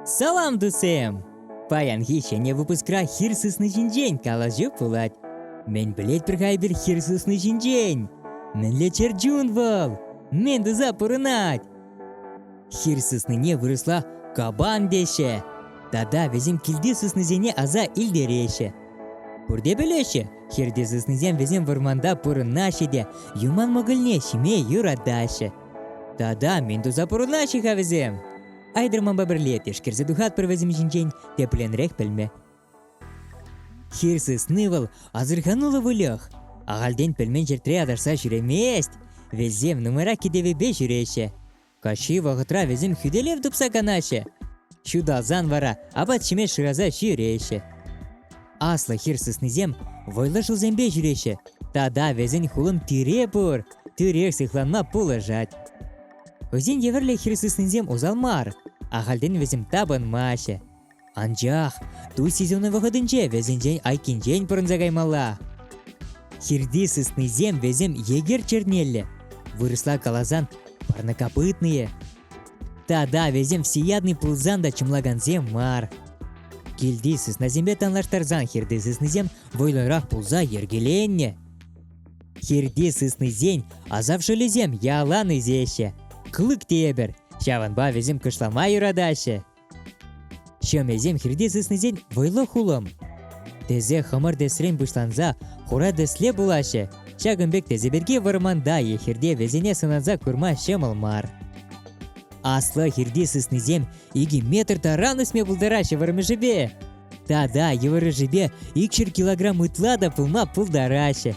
Салам, тусем! Паянхи ҫӗнӗ выпускра хир сысни ҫинчен калаҫу пулать. Мӗн пӗлет пӗр хайпер хир сысни ҫинчен? Мӗнле чӗрчун вӑл? Мӗн туса пурӑнать? Хир сыснине вырӑсла кабан теҫҫӗ. Тата вӗсем килти сыснисене аса илтереҫҫӗ. Пурте пӗлеҫҫӗ, хирти сыснисем вӗсем вӑрманта пурӑнаҫҫӗ те юман мӑкӑльне ҫиме юратаҫҫӗ. Тата мӗн туса пурӑнаҫҫӗ-ха вӗсем? Айдӑрманпа пӗрле тешкерсе тухатпӑр вӗсем ҫинчен тепленрех пӗлме. Хир сысни вӑл асӑрхануллӑ выльӑх. Ахальтен пӗлмен ҫӗртре аташса ҫӳремест. Вӗсем нумайрах кӗтевӗпе ҫӳреҫҫӗ. Каҫхи вӑхӑтра вӗсем хӳтӗлев тупса канаҫҫӗ. Ҫуталсан вара апат ҫиме шыраса ҫӳреҫҫӗ. Аслӑ хир сыснисем вӑйлӑ шывсемпе ҫӳреҫҫӗ тата вӗсен хулӑн тире пур, тӳрех сыхланма пулӑшать. Вӗсен евӗрлӗ хир сыснисем усал мар, ахальтен вӗсем тапӑнмаҫҫӗ. Анчах туй сезонӗ вӑхӑтӗнче вӗсенчен айккинчен пӑрӑнса каймалла. Хирти сыснисем вӗсем егер чернеллӗ, вырӑсла каласан парнокопытные, Тата вӗсем всеядный пулсан та чӑмлакансем мар. Килти сыснасемпе танлаштарсан хирти сыснисем вӑйлӑрах пулса йӗркеленнӗ. Хирти сыснисен асап шӑлӗсем ялан ӳсеҫҫӗ. Клык те ҫавӑнпа вӗсем кӑшлама юратаҫҫӗ. Ҫӑмӗсем хирте сыснисен вӑйлӑ хулӑм. Тесе хӑмӑр тӗсрен пуҫланса хура тӗсле пулаҫҫӗ. Ҫакӑн пек тӗсе пирки вӑрманта е хирте вӗсене сӑнанса курма ҫӑмӑл мар. Аслӑ хирти сыснисем икӗ метр таран ӳсме пултараҫҫӗ вӑрмӑшӗпе. Тата йывӑрӑшӗпе икҫӗр килограмм ытла та пулма пултараҫҫӗ.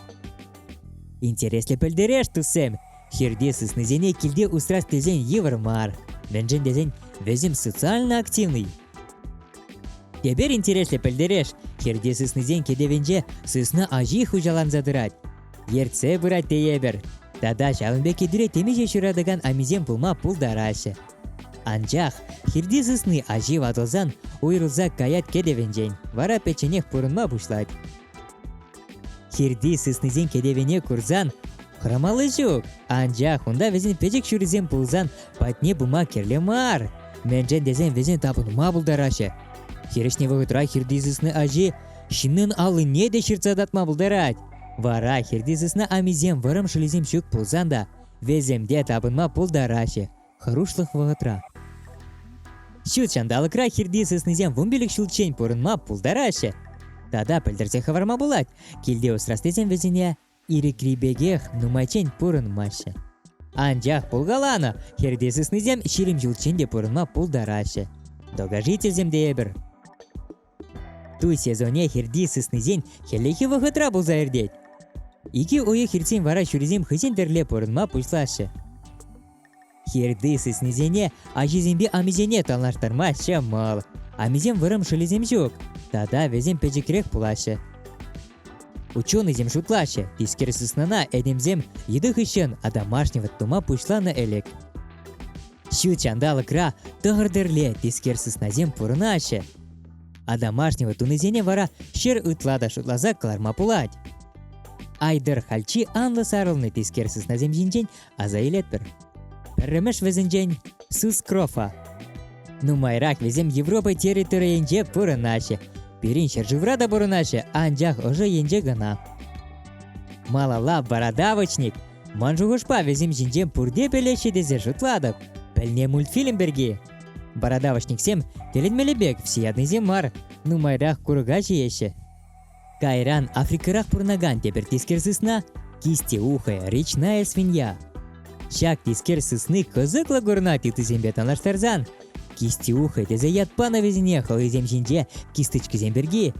Интереслӗ пӗлтереш, туссем! Хирте сыснисене килте усрас тесен йывӑр мар. Мӗншӗн тесен вӗсем социально активный. Тепер интереслӗ пӗлтереш, хирте сыснисен кӗтӗвӗнче сысна аҫи хуҫаланса тӑрать. Ертсе пырать тейӗпӗр. Тата ҫавӑн пек кӗтӳре темиҫе ҫуратакан амисем пулма пултараҫҫӗ. Анчах хирти сысни аҫи ватӑлсан уйрӑлса каять кӗтӗвӗнчен, вара пӗчченех пурӑнма пуҫлать. Хирти сыснисен кӗтӗвене курсан хӑрамалли ҫук. Анчах унта вӗсен пӗчӗк ҫурисем пулсан патне пыма кирлӗ мар. Мӗншӗн тесен вӗсен тапӑнма пултараҫҫӗ. Хирӗҫне вӑхӑтра хирти сысна аҫи ҫыннӑн аллине те ҫыртса татма пултарать. Вара хирти сысна амисем вӑрӑм шӑлисем ҫук пулсан та вӗсем те тапӑнма пултараҫҫӗ. хӑрушлӑх вӑхӑтра. Ҫут ҫанталӑкра хирти сыснисем вунпилӗк ҫулччен пурӑнма пултараҫҫӗ. Тата пӗлтерсе хӑварма пулать, килте усрас тесен вӗсене ирӗкри пекех нумайччен пурӑнмаҫҫӗ. Анчах пулкаланӑ, хирти сыснисем ҫирӗм ҫулччен те пурӑнма пултараҫҫӗ. Догожительсем те эпир. Ту сезонне хирти сыснисен хӗллехи вӑхӑтра пулса иртет. Икӗ уйӑх иртсен вара ҫурисем хӑйсен тӗрле пурӑнма пуҫлаҫҫӗ. Хирти сыснисене аҫисемпе амисене танлаштарма ҫӑмӑл. Амисем вӑрӑм шӑлӗсем ҫук, тата вӗсем пӗчӗкрех пулаҫҫӗ. Ученӑйсем шутлаҫҫӗ, тискер сыснана этемсем йытӑ хыҫҫӑн домашний вӑт тума пуҫланӑ ӗлӗк. Ҫут ҫанталӑкра тӑхӑр тӗрле тискер сыснасем пурӑнаҫҫӗ, А домашнего тунисене вара ҫӗр ытла та шутласа кӑларма пулать. Айдӑр хальчи анлӑ сарӑлнӑ тискер сыснасем ҫинчен аса илетпӗр. Пӗрремӗш вӗсенчен сыскрофа. Нумайрах вӗсем Европа территорийӗнче пурӑнаҫҫӗ. Пирӗн ҫӗршывра та пурӑнаҫҫӗ, анчах ӑшӑ енче кӑна. Малалла бородавочник. Ман шухӑшпа вӗсем ҫинчен пурте пӗлеҫҫӗ тесе шутлатӑп. Пӗлне мультфильм пирки. Бородавочниксем тӗлӗнмелле пек всеядныйсем мар, нумайрах курӑка ҫиеҫҫӗ. Кайран Африкӑрах пурӑнакан тепӗр тискер сысна – кистеухая речная свинья. Ҫак тискер сысни кӑсӑклӑ курӑнать ыттисемпе танлаштарсан. Кистеухая тесе ят панӑ вӗсене хӑйсем ҫинче кисточкисем пирки.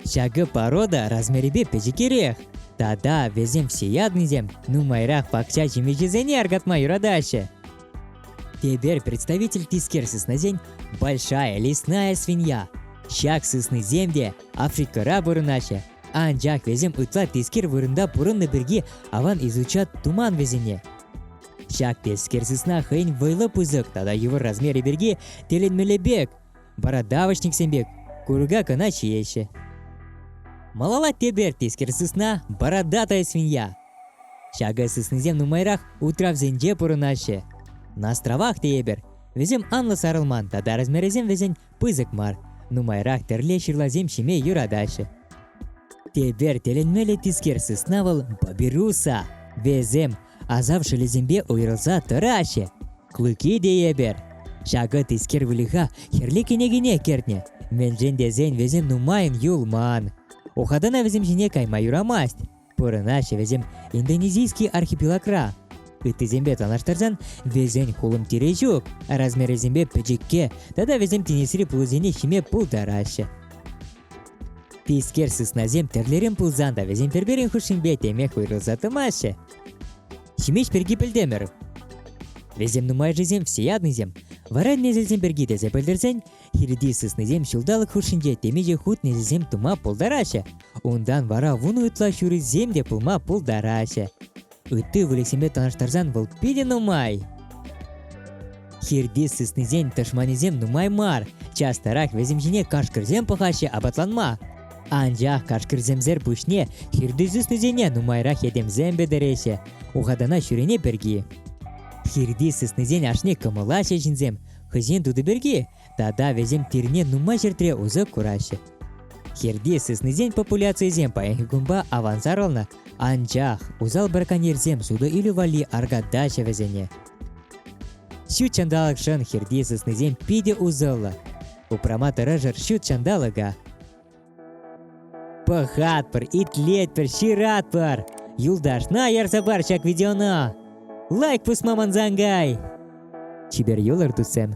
Ҫакӑ порода размерӗпе пӗчӗкерех. Тата вӗсем всеядныйсем нумайрах пахча ҫимӗҫӗсене аркатма юратаҫҫӗ. Теперь представитель тискер сыснасен большая лесная свинья. Ҫак сыснисем те Африкӑра пурӑнаҫҫӗ, анчах вӗсем ытла тискер вырӑнта пурӑннӑ пирки аван изучат туман вӗсене. Ҫак тискер сысна хӑйӗн вӑйлӑ пысӑк тата йывӑр размерӗ пирки тӗлӗнмелле пек, вара давочниксем пек курка кӑна ҫиеҫҫӗ. Малала тепер тискер сысна бородатая свинья. Ҫакӑ сыснисем нумайрах утравсенче пурӑнаҫҫӗ. На островах тейӗпӗр. Вӗсем анлӑ сарӑлман тата размерӗсем вӗсен пысӑк мар. Нумайрах тӗрле ҫырласем ҫиме юратаҫҫӗ. Тепер тӗлӗнмелле тискер сысна вӑл папируса. Вӗсем асав шӑлӗсемпе уйрӑлса тӑраҫҫӗ. Клыки тейӗпӗр. Ҫакӑ тискер выльӑха хӗрлӗ кӗнекене кӗртнӗ. Мӗншӗн тесен вӗсем нумайӑн юлман. Ухатана вӗсем ҫине кайма юрамасть. Пурӑнаҫҫӗ вӗсем индонезийский архипелагра. Ыттисемпе танлаштарсан вӗсен хулӑм тирӗ ҫук, размерӗсемпе пӗчӗкке тата вӗсем тинӗсри пулӑсене ҫиме пултараҫҫӗ. Тискер сыснасем тӗрлӗрен пулсан та вӗсем пӗр-пӗрин хушшинче темех уйрӑлса тӑмаҫҫӗ. Ҫимеҫ пирки пӗлтӗмӗр. Вӗсем нумайӑшӗсем всеядныйсем. Вара несӗлсем пирки тесе пӗлтерсен Хирти сыснисем ҫулталӑк хушшинче темиҫе хут несӗлсем тума пултараҫҫӗ. Унтан вара вунӑ ытла ҫурисем те пулма пултараҫҫӗ. Ытти выльӑхсемпе танлаштарсан вӑл питӗ нумай. Хирти сыснисен тӑшманӗсем нумай мар. Частарах вӗсем ҫине кашкӑрсем пӑхаҫҫӗ апатланма. Анчах кашкӑрсемсер пуҫне хирти сыснисене нумайрах этемсем пӗтереҫҫӗ, ухатана ҫӳрене пирки. Хирти сыснисен ашне кӑмӑлаҫҫӗ ҫынсем, хӑйсен тутӑ пирки тата вӗсем пирне нумай ҫӗртре усӑ кураҫҫӗ. Хирти сыснисен популяцийӗсем паянхи кунпа авансарӑлнӑ, анчах усал браконьерсем сутӑ илӳ валли аркатаҫҫӗ вӗсене. Ҫут ҫанталӑкшӑн хирти сыснисем питӗ усӑллӑ. Упрама тӑрӑшӑр ҫут ҫанталӑка. Пӑхатпӑр, итлетпӗр, ҫыратпӑр. Юлташна ярса пар ҫак видеона. Лайк пусма мансангай. Чипер юлӑр, туссем.